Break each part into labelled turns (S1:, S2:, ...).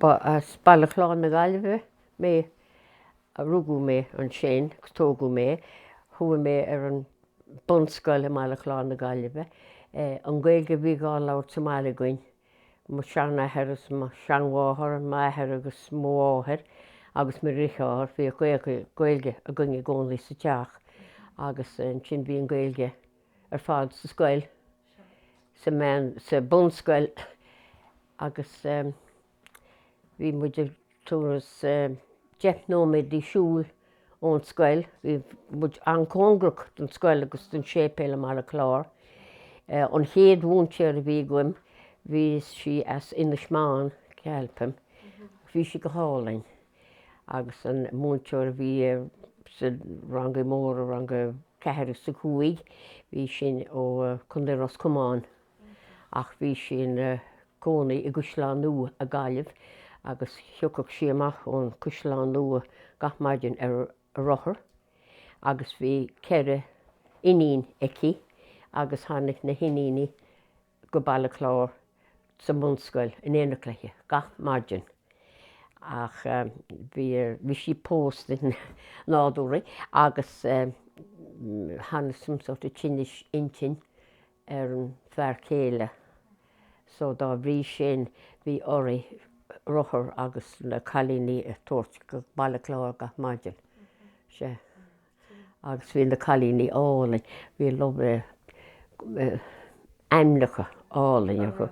S1: Ba as Baile Chláir na Gaillimhe mé. Rugadh mé ansin agus tógadh mé. Chuaigh mé ar an bunscoil i mBaile Chláir na Gaillimhe. An Ghaeilge a bhí dhá labhairt sa mbaile againn, mo sheanathair is mo sheanmháthair, m'athair agus mo mháthair agus mo dheartháir, bhí Gaeilge againn i gcónaí sa teach agus ansin bhí an Ghaeilge ar fad sa scoil, sa meán, sa bunscoil agus bhí muid ag turas deich nóiméad de siúl ón scoil. Bhí muid an-cóngarach don scoil agus don séipéal i mBaile Chláir. An chéad mhúinteoir a bhí agam, bhí sí as Inis Meáin, ceapaim, bhí sí go hálainn. agus an múinteoir a bhí sa rangaí móra, rang a ceathair is a cúig, bhí sin ó Chondae Ros Comáin ach bhí sí ina cónaí i gCaisleán Nua i Gaillimh agus thiocfadh sí amach ón Caisleán Nua gach maidin ar a rothar agus bhí ceithre iníon aici agus tháinig na hiníní go Baile Chláir sa mbunscoil in éineacht léi gach maidin ach bhí sí pósta nádúrtha agus tháinig some sort of tinneas intinn ar an fear céile so dá bhrí sin bhí uirthi rothar agus na cailíní a tabhairt go Baile Chláir gach maidin. Sé. agus bhí na cailíní álainn, bhí lovely ainmneacha álainn acu,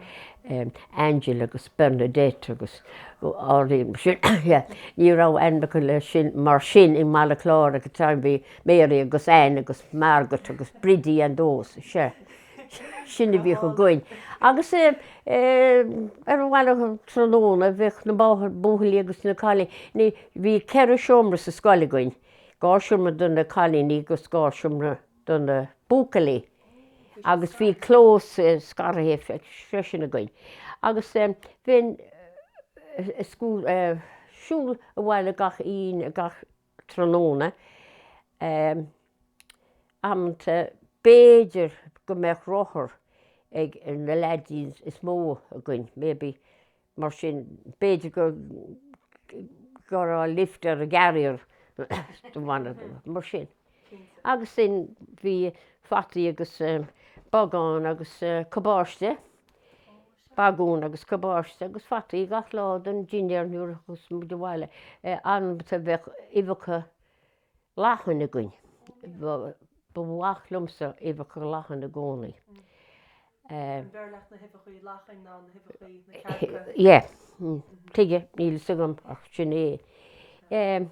S1: Angela agus Bernadette agus álainn sin, ní raibh ainmneacha le sin mar sin i mBaile Chláir ag an am, bhí Mary agus Anne agus Margaret agus Bridie and those, sea, sin a bhíodh againn. Agus ar an bhaile tráthnóna bheadh na buachaillí agus na cailíní, bhí ceithre seomra sa scoil againn, dhá seomra do na cailíní agus dhá seomra do na buachaillí agus bhí clós scartha freisin againn agus bhínn ag siúl abhaile gach aon gach tráthnóna amanta b'fhéidir go mbeadh rothar ag na leaidíní is mó againn maybe Mar sin, b'fhéidir go raibh lift ar an gcarrier don bhaile, mar sin. Agus sin, bhí fataí agus bagán agus cabáiste, bagún agus cabáiste agus fataí gach lá don dinnéar nuair a thiocfadh muid abhaile. Amanta bheadh uibheacha. Lachan againn. Ba mhaith liomsa uibheacha lachan i gcónaí. An b'fhearr leat na huibheacha lachan ná na huibheacha na cearca? Yeah. Tuige, níl fhios agam ach sin é. An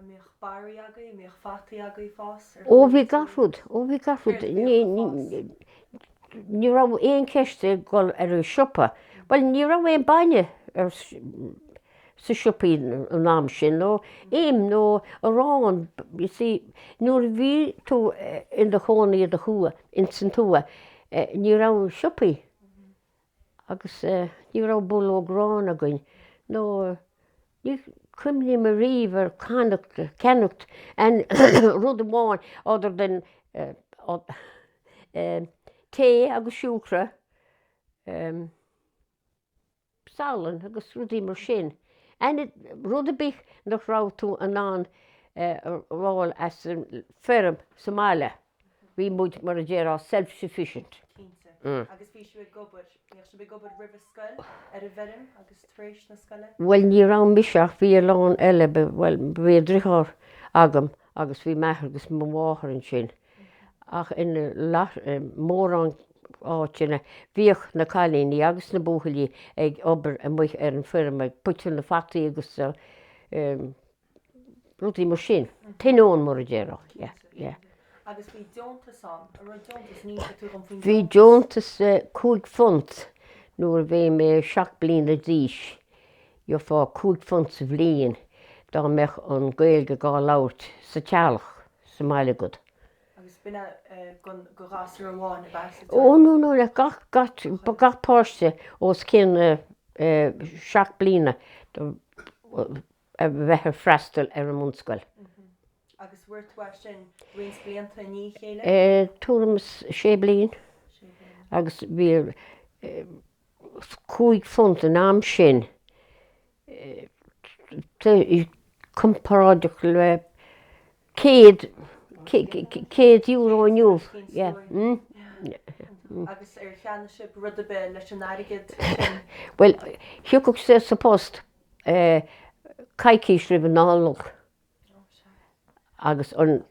S1: mbíodh barraí agaibh, an mbíodh fataí agaibh fós? Ó bhí gach rud, ó bhí gach rud. Céard a bhíodh ag fás? Ní raibh aon cheist a dhul ar an siopa. Bhuel ní raibh aon bainne ar. sna siopaí an am sin nó im nó arán you see nuair a bhí tú in do chónaí i do thuath ins an tuath ní raibh siopaí agus ní raibh bulóg aráin againn nó ní cuimhin liom ariamh ar canacht ceannacht aon rud amháin other than tae agus siúcra. salann agus rudaí mar sin. Aon rud a' bith nach raibh tú in ann a fháil as an feirm sa mbaile, bhí muid mar a déarfá self sufficient. Cinnte. Agus
S2: bhí sibh ag obair, bhíodh sibh ag obair roimhe scoil ar an bhfeirm agus tar éis na scoile? Bhuel ní
S1: raibh mise ach bhí a lán eile, bhuel bhí an driotháir agam agus bhí m'athair agus mo mháthair ansin ach in mórán áiteanna bhíodh na cailíní agus na buachaillí ag obair amuigh ar an bhfeirm ag piocadh na fataí agus rudaí mar sin, tuigeann tú mar a déarfá, yeah,
S2: yeah. Agus bhí deontas ann, an raibh
S1: deontas, d'inseofá faoin Bhí deontas cúig phunt nuair a bhí mé seacht bliana d'aois. Gheofá cúig phunt sa bhliain dá mbeadh an Ghaeilge dhá labhairt sa teaghlach, sa mbaile agat. Agus
S2: b'in é don ghasúr amháin ab ea?
S1: Ó no, no, le gach páiste os cionn seacht bliana a bheadh ag freastal ar an mbunscoil.
S2: Agus fuair tú é sin roinnt blianta i ndiaidh a chéile? Tuairim is sé
S1: bliain agus bhí cúig phunt an am sin comparáideach le céad céad euro inniu.
S2: Agus ar cheannaigh sibh rud ar bith leis an airgead sin? Bhuel
S1: thiocfadh sé sa phost coicís roimh an Nollaig. Agus an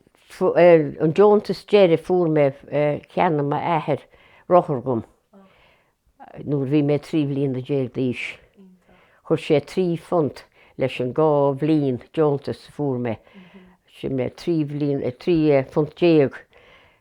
S1: deontas deiridh fuair mé, cheannaigh m'athair rothar dhom nuair a bhí mé trí bhliana déag d'aois. Chuir sé trí phunt leis an dhá bhliain deontais a fuair mé, sin é trí bhliana, trí phunt déag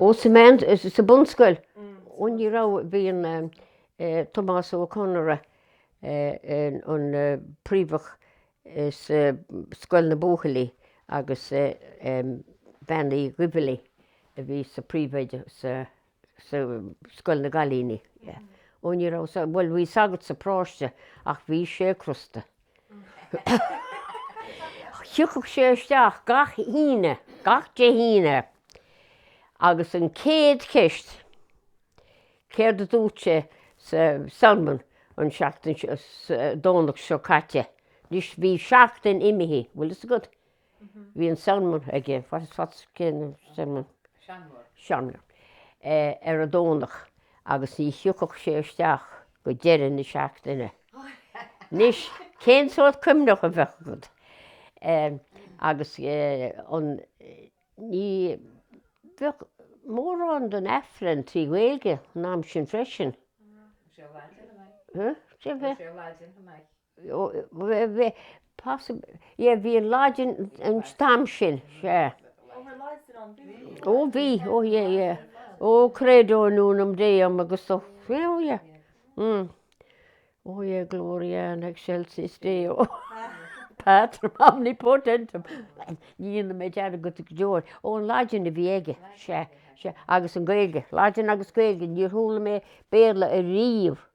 S2: Ó
S1: sa meán, sa bunscoil, ní raibh, bhí an Tomás Ó Conaire, an príomhoide sa scoil na buachaillí agus Bean Uí Dhuibhealaí a bhí ina príomhoide sa scoil na gcailíní. Ó ní raibh, bhuel bhí sagart sa pharóiste ach bhí sé crosta. Thiocfadh sé isteach gach Aoine, gach Dé hAoine, agus an chéad cheist, céard a dúirt sé sa sermon an seachtain, Domhnach seo caite, anois bhí seachtain imithe, bhfuil fhios agat, Bhí an sermon aige, what's the céard an sermon? Seanmóir. Seanmóir ar an Domhnach agus ní thiocfadh sé isteach go deireadh na seachtaine. Anois, cén sórt cuimhne a bheadh agat? Agus an, ní, bheadh mórán den Aifreann trí Ghaeilge an am sin freisin. Bhí sé Laidin, an ea? Huh? Bhí sé Laidin, an ea? yeah bhí an Laidin an t-am sin sea. Oh bhí oh yeah yeah oh credo in unum deum agus oh yeah mm oh yeah gloria in excelsis deo patrem omnipotentem ní dhéanfaidh mé dearmad air go deo ó an Laidin a bhí aige sea sea agus an Gaeilge Laidin agus Gaeilge níor chuala mé Béarla ariamh.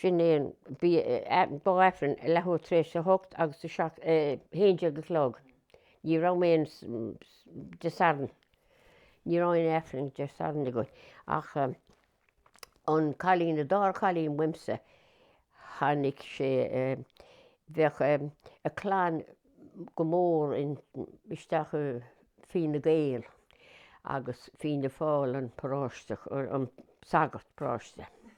S1: Sin é an bhí Aifreann ag leathuair tar éis a hocht agus ag a haon déag a chlog. Ní raibh aon Dé Sathairn. Ní raibh aon Aifreann Dé Sathairn againn ach an cailín an dara cailín uaimse tháinig sé bheadh a clann go mór in isteach i Fine Gael agus Fianna Fáil an paróiste an sagart paróiste.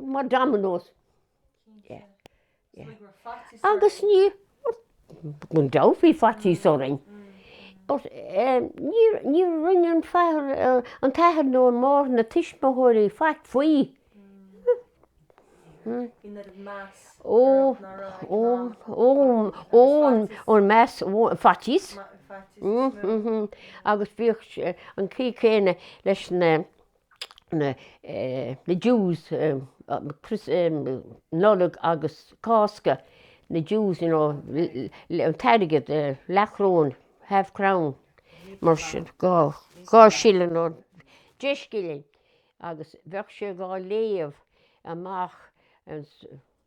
S1: Mar dominoes. Yeah. Yeah. Like we're fatty Agus ní gan dabht bhí faitíos orainn. But eh, ní ní rinne an father eh, an t-athair nó an máthair na tuismitheoirí faic faoi. Bhí an meas Ó, ó, ó, ó, ó meas faitíos. faitíos. Agus bhíodh an chaoi céanna leis na na dues Nollag agus Cásca na dues you know an t-airgead leathchróin half crown mar sin dhá dhá shilling nó deich scilling agus bheadh sé dhá léamh amach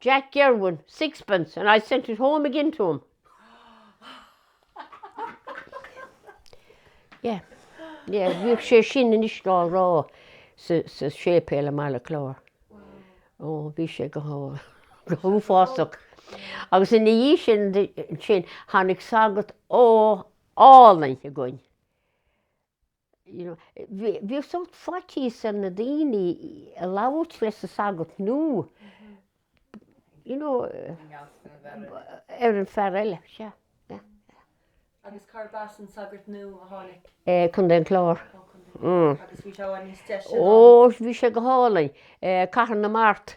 S1: Jack Gerwin, sixpence, and I sent it home again to him. Yeah, yeah, bhíodh sé sin anois á rá sa, sa séipéal i mBaile Cláir. Ó, bhí sé go, go h-uafásach. Agus ina dhiaidh sin, sin, tháinig sagart ó, álainn againn. Bhíodh sórt faitíos ar na daoine a labhairt leis an sagart nó ar an bhfear eile,
S2: sea. Agus cár b'as an sagart nua a tháinig? Contae an
S1: Chláir. Ó Contae an Chláir. Agus
S2: bhí sé i bhfad níos deise ná? Ó bhí sé go
S1: hálainn. Cathair na Mart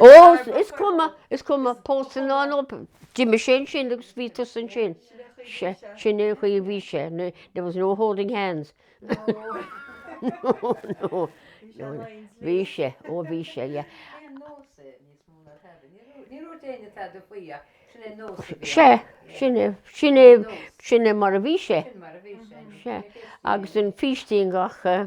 S2: Ó, is
S1: cuma, is cuma, pósadh ná an obair, d'imigh sé ansin agus bhí tusa ansin. Sea, sin é an chaoi a bhí sé, there was no holding hands. No, no, no, bhí sé, ó bhí sé, yeah. Sea, sin é, sin é, sin é mar a bhí sé. Sea, agus an fístín gach, eh,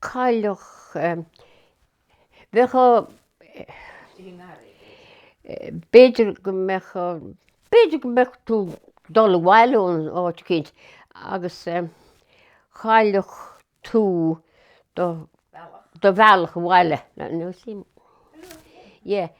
S1: Chaillfeadh. Bheadh a, b'fhéidir go mbeadh, b'fhéidir go mbeadh tú ag dul abhaile ó áit éicint agus chaillfeadh tú do bhealach abhaile.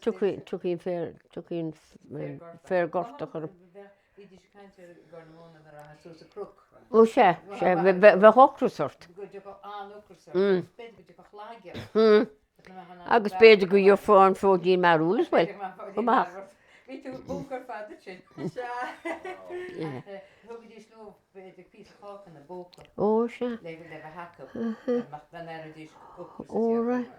S1: Tiocfadh an féar gortach ort. Ó sea, bheadh ocras ort. Agus b'fhéidir go ndéarfá an fóidín mearbhaill as well. Chomh
S3: maith. Ó sea. Ó raghaidh.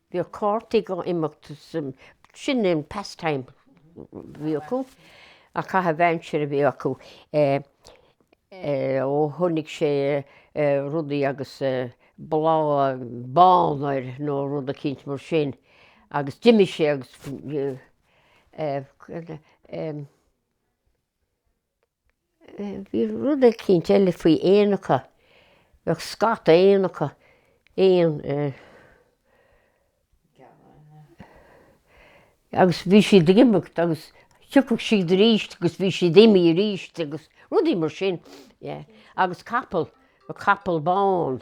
S1: Bhíodh cártaí ag imeacht sin an pastime a bhí acu an caitheamh aimsire a bhí acu ó chonaic sé rudaí agus bláth bán air nó rud eicínt mar sin agus d'imigh sé agus Bhí rud eicínt eile faoi éanacha, bheadh scata éanacha, éan eh. Agus bhí siad ag imeacht agus thiocfadh siad aríst agus bhí siad imithe aríst agus rudaí mar sin, yeah. Agus capall, bheadh capall bán.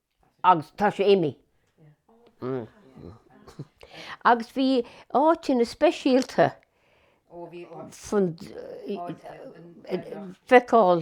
S1: agus tá sé imithe. Agus bhí áiteanna speisialta
S3: dhá bhfeiceáil.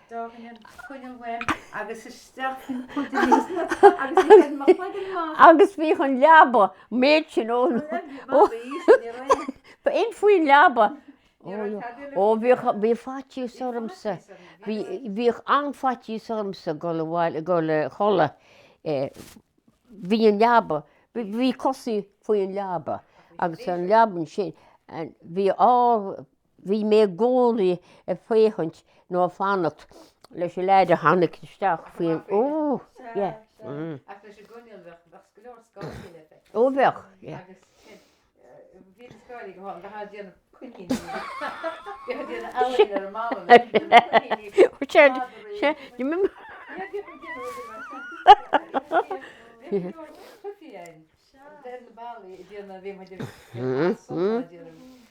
S3: Dóthain an choinnil
S1: uaim agus isteach faoin chuideachas agus ag déanamh mo chloigeann maith. Agus bhí an leaba, méid sin ó. Ba in faoin leaba. Ó bhíodh, bhí faitíos ormsa, bhíodh an-fhaitíos ormsa ag goil, ag goil a chodladh. Bhí an leaba, bhí cosaí faoin leaba agus an leaba sin bhí Bhí mé i gcónaí ag féachaint nó ag fanacht leis an leaid a tháinig isteach faoi
S3: ó yeah.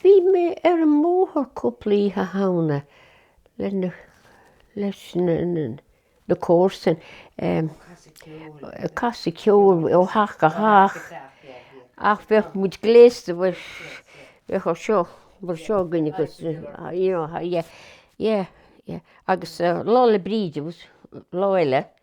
S1: Bhí mé ar an mbóthar cúpla Oíche Shamhna le na, leis na, na comharsain, em, ag casadh ceoil ó theach go theach ach bheadh muid gléasta mar, bheadh rud seo, mar seo againn agus you know, yeah, yeah, yeah agus Lá 'le Bríde agus lá eile.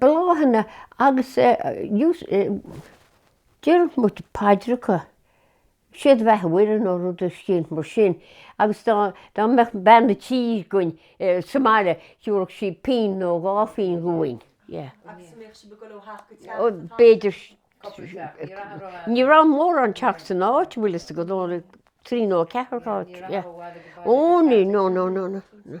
S1: bláthanna agus déarfadh muid paidreacha, sé do bheatha a Mhuire nó rud eicínt mar sin agus dá mbeadh bean a tí againn sa mbaile thiúrfadh sí pingin nó dhá phingin dhúinn. B'fhéidir. Ní raibh mórán teach san áit bhfuil fhios agat, trí nó ceathar áit. Ó ní, no no no no.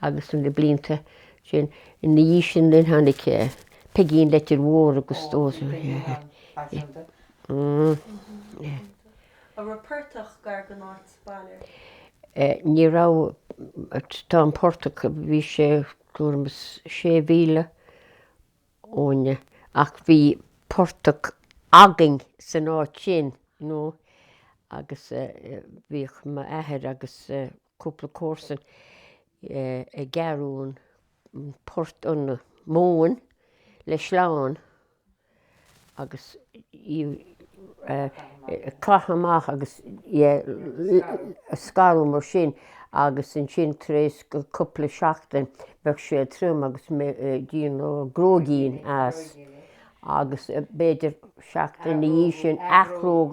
S1: agus leis na blianta sin ina dhiaidh sin linn tháinig Peigín Leitir Móir agus An
S2: raibh portach gar don áit baile?
S1: Ní raibh. Tá an portach, bhí sé tuairim is sé mhíle uainne ach bhí portach againn san áit sin nó agus bhíodh m'athair agus cúpla comharsan ag gearradh an port an mhóin le sleán agus caitheamh amach agus scaradh mar sin agus ansin tar éis cúpla seachtain bheadh sé trim agus dhéanadh gróigín as agus b'fhéidir seachtain ina dhiaidh sin athghróig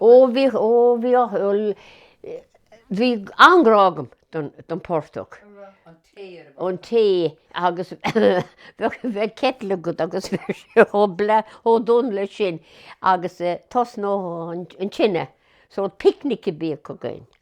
S1: Ó, bhí, ó, bhí, bhí an-grá agam don portach, an tae agus bheadh, bheadh citeal agat agus bheadh sé chomh bla, chomh donn leis sin agus tosnódh tú an tine so picnic a bhíodh againn.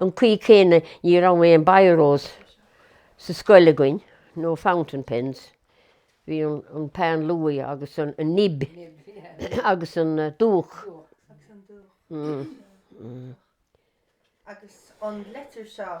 S1: an chaoi chéanna ní raibh aon biros sa scoil againn, no fountain pens, bhí an peann luaidhe agus an nib agus an
S2: dúch. Agus an litir seo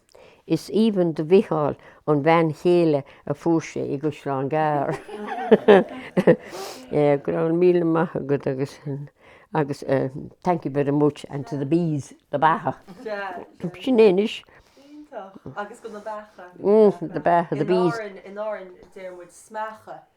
S1: Is aoibhinn do Mhicheál an bhean chéile a fuair sé i gCaisleán Gearr. Go raibh míle maith agat agus agus thank you very much and to the bees, na beacha. Sin é anois. Iontach. Agus
S2: go na beacha. Mm, na beacha,
S1: the bees. In Árainn, in Árainn
S2: déarfaimid smeacha.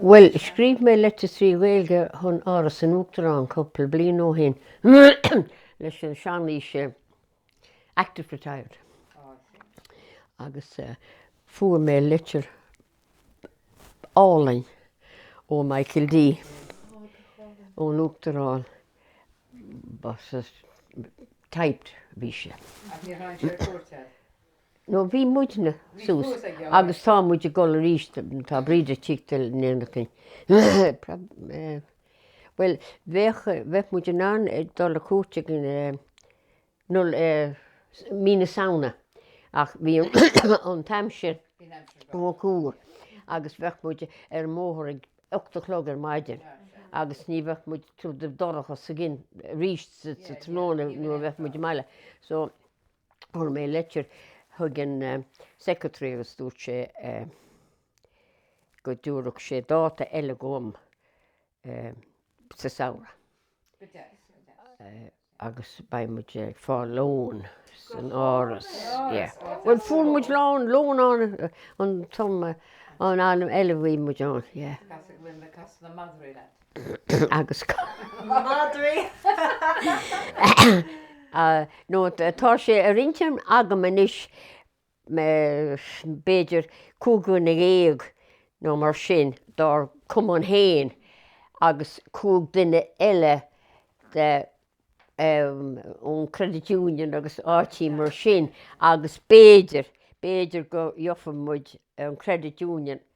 S2: Bhuel,
S1: scríobh mé leitir trí Ghaeilge chun Áras an Uachtaráin cúpla bliain ó shin leis an sean-aois active retired. Agus fuair mé litir álainn ó Michael D. ón Uachtarán typed bhí sé. Nó bhí muide thuas agus tá muid ag dul arís tá Bríd ag tíocht in éineacht linn bhuel bheadh bheadh muid in ann a dhul ar cuairt ag an mí na Samhna ach bhí an aimsir rófhuar agus bheadh muid ar an mbóthar ag ocht a chlog ar maidin agus ní bheadh muid bheadh sé dorcha sa gcionn arís sa tráthnóna nuair a bheadh muid sa mbaile so Fuair mé leitir thug an secretary agus dúirt sé go dtabharfadh sé dáta eile dhom sa samhradh. Go deas, go deas. Agus beidh muid ag fáil lón san Áras. Go deas, go deas. Bhuel fuair muid lón, lón ann an t-am, an am eile a bhí muid ann, yeah. Casadh, casadh na madraí leat. agus madraí. nó tá sé ar intinn agam anois b'fhéidir cúig dhuine dhéag nó mar sin dár cumann féin agus cúig duine eile de ón Credit Union agus áiteanna mar sin agus b'fhéidir, b'fhéidir go ngeobhaidh muid an Credit Union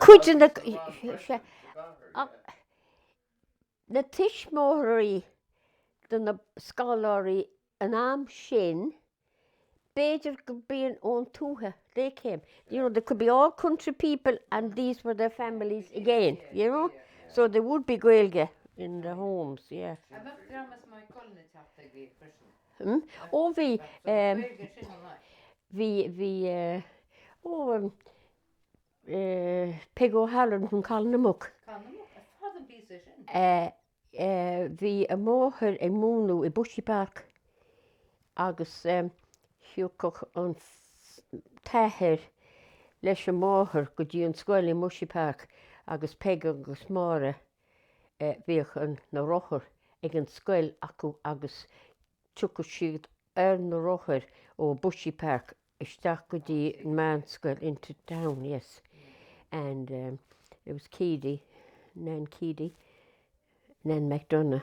S4: Cuid
S1: de na tuismitheoirí de na scoláirí an am sin, b'fhéidir go mbíonn ón tuaithe, they came, you know, they could be all country people and these were their families again, you know, so there would be Gaeilge in the homes, yeah. Hm? Ó bhí eh, bhí, bhí eh, ó em, eh, Peg O'Halloran from Collinamuck. Eh, eh, bhí a máthair ag múnadh i Bushy Park agus em, thiocfadh an s- t-athair leis an máthair go dtí an scoil i mBushy Park agus Peg agus Máire Bhíodh na rothair ag an scoil acu agus thiocfadh siad ar na rothair ó Bushy Park isteach go dtí an mheánscoil into town, yes. And um, it was Keady, Nan Keady, Nan McDonagh.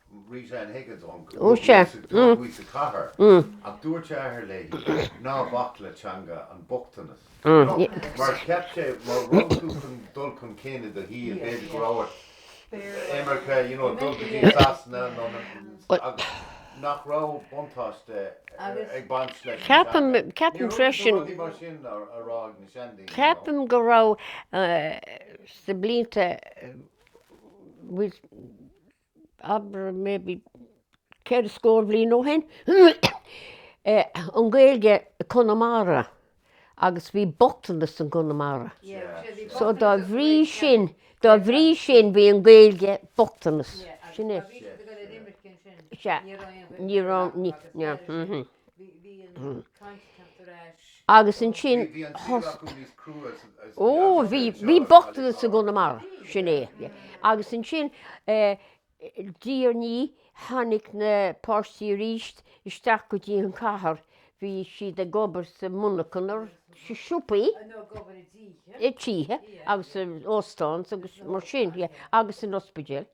S4: Ó, sea. Ceapaim, ceapaim freisin,
S1: ceapaim go raibh sna blianta, abair maybe ceithre scór bliain ó shin, an Gaeilge i Conamara agus bhí bochtanas in Conamara. So dá bhrí sin dá bhrí sin bhí an Gaeilge bochtanas. Sin é. Ní Agus ansin thosaigh, ó bhí, bhí bochtanas i gConamara, sin é. Agus ansin diaidh ní tháinig na páistí aríst isteach go dtí an chathair, bhí siad ag obair sa monarchan or sa siopaí, i dtithe agus óstáin agus mar sin agus san ospidéal.